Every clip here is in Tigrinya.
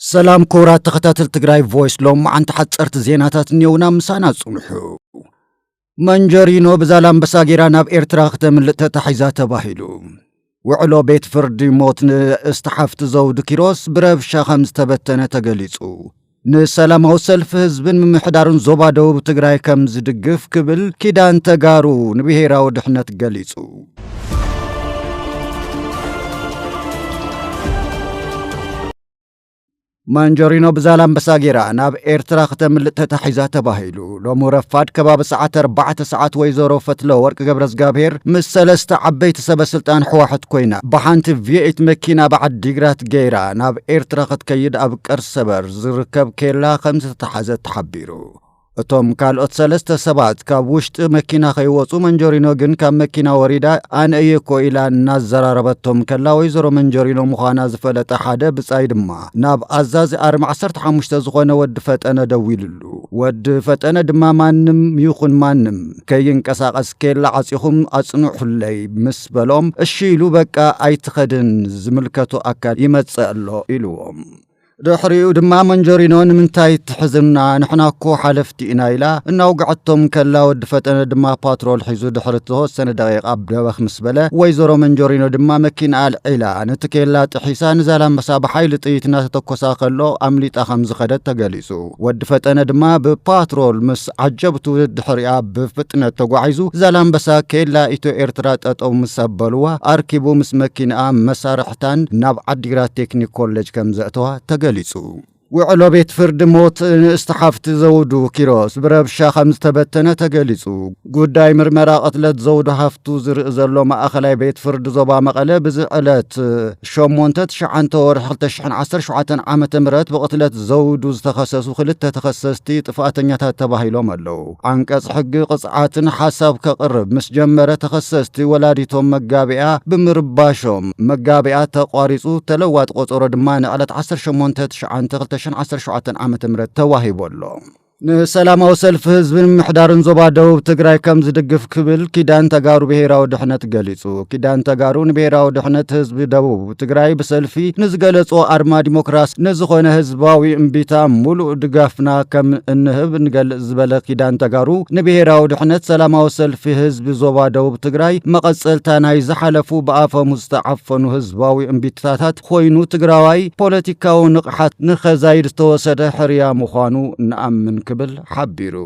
ሰላም ክቡራት ተኸታተል ትግራይ ቮይስ ሎማዓንቲ ሓፀርቲ ዜናታት እኒኦውና ምሳና ጽንሑ መንጀሪኖ ብዛላምበሳ ጌራ ናብ ኤርትራ ክተምልጥ ተታሒዛ ተባሂሉ ውዕሎ ቤት ፍርዲ ሞት ንእስቲ ሓፍቲ ዘውዲ ኪሮስ ብረብሻ ከም ዝተበተነ ተገሊጹ ንሰላማዊ ሰልፊ ህዝብን ምምሕዳርን ዞባ ደቡብ ትግራይ ከም ዝድግፍ ክብል ኪዳን ተጋሩ ንብሄራዊ ድሕነት ገሊጹ ማንጀሪኖ ብዛላምበሳ ጌራ ናብ ኤርትራ ክተምልጥ ተታሒዛ ተባሂሉ ሎሚ ረፋድ ከባቢ ሰዓት ኣርባዕተ ሰዓት ወይዘሮ ፈትለ ወርቂ ገብረ እግዚኣብሄር ምስ ሰለስተ ዓበይቲ ሰበ ስልጣን ሕዋሕት ኮይና ብሓንቲ ቪኤት መኪና ኣብ ዓዲግራት ገይራ ናብ ኤርትራ ክትከይድ ኣብ ቀርሰበር ዝርከብ ኬላ ከም ዝተታሓዘት ተሓቢሩ። እቶም ካልኦት ሰለስተ ሰባት ካብ ውሽጢ መኪና ከይወፁ መንጆሪኖ ግን ካብ መኪና ወሪዳ ኣነ እየ እኮ ኢላ እናዘራረበቶም ከላ ወይዘሮ መንጆሪኖ ምዃና ዝፈለጠ ሓደ ብፃይ ድማ ናብ ኣዛዚ ኣርሚ 15 ዝኾነ ወዲ ፈጠነ ደዊልሉ። ወዲ ፈጠነ ድማ ማንም ይኹን ማንም ከይንቀሳቐስ ኬላ ዓፂኹም ኣፅንሑለይ ምስ በሎም እሺ ኢሉ በቃ ኣይትኸድን ዝምልከቶ ኣካል ይመፅእ ኣሎ ኢሉዎም። ድሕሪኡ ድማ መንጀሪኖ ንምንታይ ትሕዝና ንሕና እኮ ሓለፍቲ ኢና ኢላ እናውግዐቶም ከላ ወዲ ፈጠነ ድማ ፓትሮል ሒዙ ድሕሪ ተወሰነ ደቂቃ ደበኽ ምስ በለ ወይዘሮ መንጀሪኖ ድማ መኪንኣ ኣልዒላ ነቲ ኬላ ጥሒሳ ንዛላምበሳ ብሓይሊ ጥይት እናተተኮሳ ከሎ ኣምሊጣ ከም ዝኸደት ተገሊጹ። ወዲ ፈጠነ ድማ ብፓትሮል ምስ ዓጀብቱ ድሕሪኣ ብፍጥነት ተጓዒዙ ዛላምበሳ ኬላ ኢትዮ ኤርትራ ጠጠው ምስ ኣበሉዋ ኣርኪቡ ምስ መኪንኣ መሳርሒ ብምፍታን ናብ ዓዲግራት ቴክኒክ ኮሌጅ ከምዘእተዋ ተገሊፁ። ውዕሎ ቤት ፍርዲ ሞት ንእስቲ ሓፍቲ ዘውዱ ኪሮስ ብረብሻ ከምዝተበተነ ተገሊፁ። ጉዳይ ምርመራ ቅትለት ዘውዱ ሃፍቱ ዝርኢ ዘሎ ማእኸላይ ቤት ፍርዲ ዞባ መቐለ ብዚ ዕለት ሸሞንተ ትሽዓንተ ወርሒ ክልተ ሽሕን ዓሰርተ ሸውዓተን ዓመተ ምህረት ብቕትለት ዘውዱ ዝተኸሰሱ ክልተ ተኸሰስቲ ጥፍኣተኛታት ተባሂሎም ኣለው። ዓንቀፅ ሕጊ ቅፅዓትን ሓሳብ ከቕርብ ምስ ጀመረ ተኸሰስቲ ወላዲቶም መጋቢያ ብምርባሾም መጋቢያ ተቋሪፁ ተለዋጢ ቆፀሮ ድማ ንዕለት ዓሰርተ ሸሞንተ ትሽዓንተ ክልተ ሽሕን ዓሰርተ ሸውዓተን ዓመተ ምህረት ተዋሂቡ ኣሎ። ንሰላማዊ ሰልፊ ህዝቢ ንምምሕዳርን ዞባ ደቡብ ትግራይ ከም ዝድግፍ ክብል ኪዳን ተጋሩ ብሄራዊ ድሕነት ገሊፁ። ኪዳን ተጋሩ ንብሄራዊ ድሕነት ህዝቢ ደቡብ ትግራይ ብሰልፊ ንዝገለጾ ኣርማ ዲሞክራሲ ንዝኾነ ህዝባዊ እምቢታ ሙሉእ ድጋፍና ከም እንህብ እንገልጽ ዝበለ ኪዳን ተጋሩ ንብሄራዊ ድሕነት ሰላማዊ ሰልፊ ህዝቢ ዞባ ደቡብ ትግራይ መቐጸልታ ናይ ዝሓለፉ ብኣፈሙዝ ዝተዓፈኑ ህዝባዊ እምቢታታት ኾይኑ ትግራዋይ ፖለቲካዊ ንቕሓት ንኸዛይድ ዝተወሰደ ሕርያ ምዃኑ ንኣምን ክብል ሓቢሩ።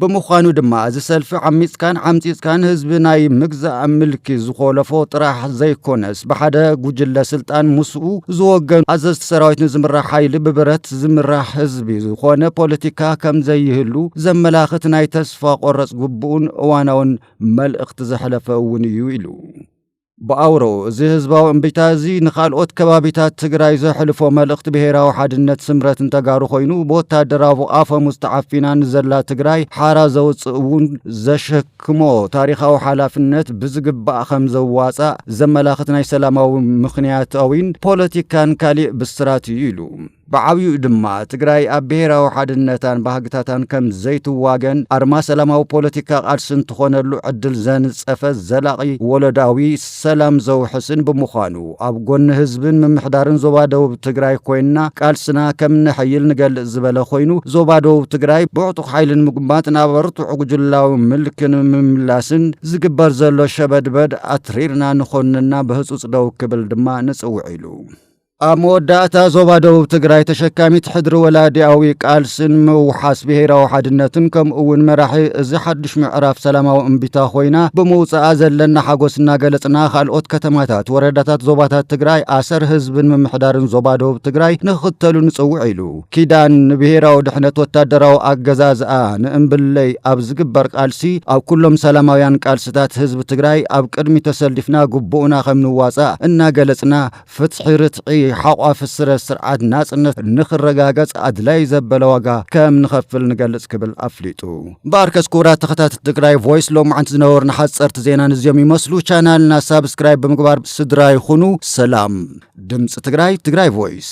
ብምዃኑ ድማ እዚ ሰልፊ ዓሚፅካን ዓምፂፅካን ህዝቢ ናይ ምግዛእ ምልኪ ዝኾለፎ ጥራሕ ዘይኮነስ ብሓደ ጉጅለ ስልጣን ምስኡ ዝወገኑ ኣዘዝቲ ሰራዊት ንዝምራሕ ሓይሊ ብብረት ዝምራሕ ህዝቢ ዝኾነ ፖለቲካ ከምዘይህሉ ዘመላኽት ናይ ተስፋ ቆረፅ ግቡእን እዋናውን መልእኽቲ ዘሕለፈ እውን እዩ ኢሉ። ብኣውረኡ እዚ ህዝባዊ እምቢታ እዚ ንካልኦት ከባቢታት ትግራይ ዘሕልፎ መልእኽቲ ብሄራዊ ሓድነት ስምረትን ተጋሩ ኮይኑ ብወታደራዊ ኣፈሙዝ ተዓፊና ንዘላ ትግራይ ሓራ ዘውፅእ እውን ዘሸክሞ ታሪኻዊ ሓላፍነት ብዝግባእ ከም ዘዋፃእ ዘመላኽት ናይ ሰላማዊ ምክንያታዊን ፖለቲካን ካሊእ ብስራት እዩ ኢሉ። ብዓብይኡ ድማ ትግራይ ኣብ ብሄራዊ ሓድነታን ባህግታታን ከም ዘይትዋገን ኣርማ ሰላማዊ ፖለቲካ ቃልስን ትኾነሉ ዕድል ዘንፀፈ ዘላቒ ወለዶኣዊ ሰላም ዘውሕስን ብምዃኑ ኣብ ጎኒ ህዝብን ምምሕዳርን ዞባ ደቡብ ትግራይ ኮይንና ቃልስና ከም ነሐይል ንገልፅ ዝበለ ኮይኑ ዞባ ደቡብ ትግራይ ብዕጡቕ ሓይሊ ንምጉንባት ናብ ኣርቱዕ ጉጅላዊ ምልኪ ንምምላስን ዝግበር ዘሎ ሸበድበድ ኣትሪርና ንኾንንና ብህፁፅ ደው ክብል ድማ ንፅውዕ ኢሉ። ኣብ መወዳእታ ዞባ ደቡብ ትግራይ ተሸካሚት ሕድሪ ወላዲኣዊ ቃልስን ምውሓስ ብሄራዊ ሓድነትን ከምኡ እውን መራሒ እዚ ሓዱሽ ምዕራፍ ሰላማዊ እምቢታ ኮይና ብምውፅኣ ዘለና ሓጎስ እናገለፅና ካልኦት ከተማታት ወረዳታት ዞባታት ትግራይ ኣሰር ህዝብን ምምሕዳርን ዞባ ደቡብ ትግራይ ንክኽተሉ ንፅውዕ ኢሉ ኪዳን ንብሄራዊ ድሕነት ወታደራዊ ኣገዛዝኣ ንእምብለይ ኣብ ዝግበር ቃልሲ ኣብ ኩሎም ሰላማውያን ቃልስታት ህዝቢ ትግራይ ኣብ ቅድሚ ተሰሊፍና ግቡእና ከምንዋፃእ እናገለፅና ፍትሒ ርትዒ ሓቋፊ ስረ ስርዓት ናጽነት ንኽረጋገጽ ኣድላይ ዘበለ ዋጋ ከም ንኸፍል ንገልጽ ክብል ኣፍሊጡ። እምበኣርከስ ክቡራት ተኸታተልቲ ትግራይ ቮይስ ሎምዓንቲ ዝነበሩና ሓጸርቲ ዜና ንዚኦም ይመስሉ። ቻናልና ሳብስክራይብ ብምግባር ስድራ ይኹኑ። ሰላም። ድምጺ ትግራይ፣ ትግራይ ቮይስ።